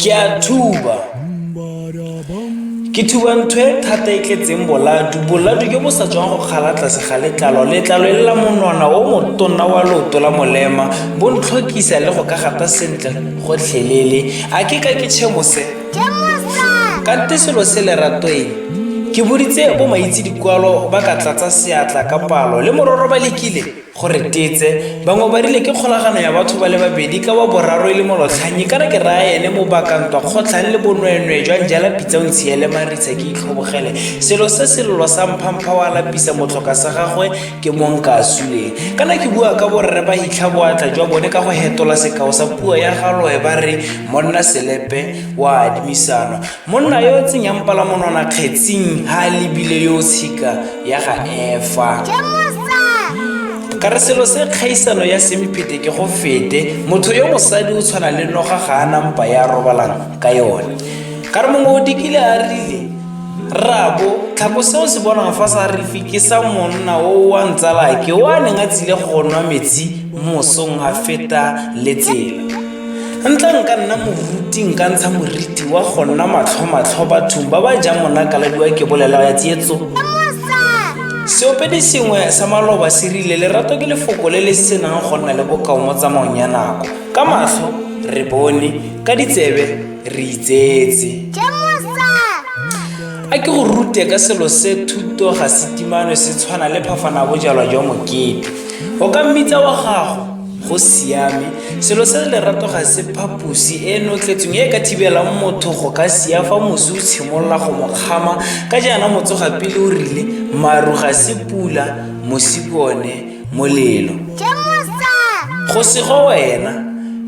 ke a thuba ke thuba ntho e thata e tletseng boladu boladu jo bo sa tswang go kgala tlase ga letlalo letlalo e lela monwana o motonna wa leoto la molema bo ntlhokisa le go ka gata sentle gotlhelele a ke ka ke tšhemose kante selo se leratoeng ke boditse bo maitse dikwalo ba ka tlatsa seatla ka palo le mororo ba lekile go re tetse bangwe ba rile ke kgolagano ya batho ba le babedi ka wa boraro e le molotlhanyi kana ke raya ene mo bakantwa kgotlhang le bonweenwee jwa njala pitsa o ntshiele maritsa ke itlhobogele selo se selelo sa mphampha wa lapisa motlhoka sa gagwe ke mong ka suleng kana ke bua ka borre ba hitlha boatla jwa bone ka go hetola sekao sa puo ya galoe ba re monna selepe wa adimisanwa Monna yo o tsenyang palamonwana kgetsing ha a lebile yo o tshika ya ga efa ka re selo se kgaisano ya semphete ke go fete motho yo mosadi o tshwana le noga ga a nampa ya robalang ka yone ka re mongwe o dikile a rile rabo tlhako se o se bonang fa sa refi ke sa monna o wa ntsalake o a neng a tsile go nwa metsi mosong a feta le tsela Ntla nka nna moruti nka ntsha moriti wa go nna matlhomatlho bathong ba ba jang monakaladiwa ke bolela ya tsietso seopedi sengwe sa maloba se rile lerato ke lefoko le le senang go nna le bokao mo tsamaong ya nako ka matlho re bone ka ditsebe re itsetse a ke go rute ka selo se thuto ga setimano se tshwana le phafana bojalwa jwa mokete o ka mmitsa wa gago go siame selo se lerato ga se phaposi e notletseng e ka thibelang motho go ka sia fa mosi o tshimolola go mo kgama ka jaana motsoga pele o rile maru ga se pula mosi ke one molelo go sego wena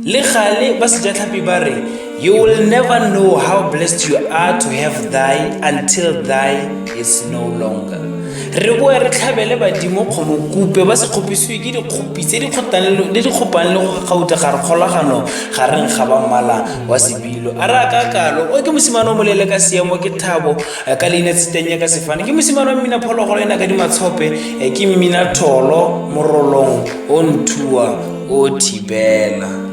le gale ba sejatlhapi ba re You will never know how blessed you are to have thy until thy is no longer. re boe re tlhabele badimo kgomo kupe ba se kgopisiwe ke dikgopi tse di kgopang le go gauta ga re kgolagano ga reng ga ba mmala wa sebilo a re a ka kalo o ke mosimane o molele ka seemo ke thabo eh, ka leina tsetenya ka sefane ke mosimane wa mmina phologolo ena ka dimatshope eh, ke mmina tholo morolong o nthuwa o thibela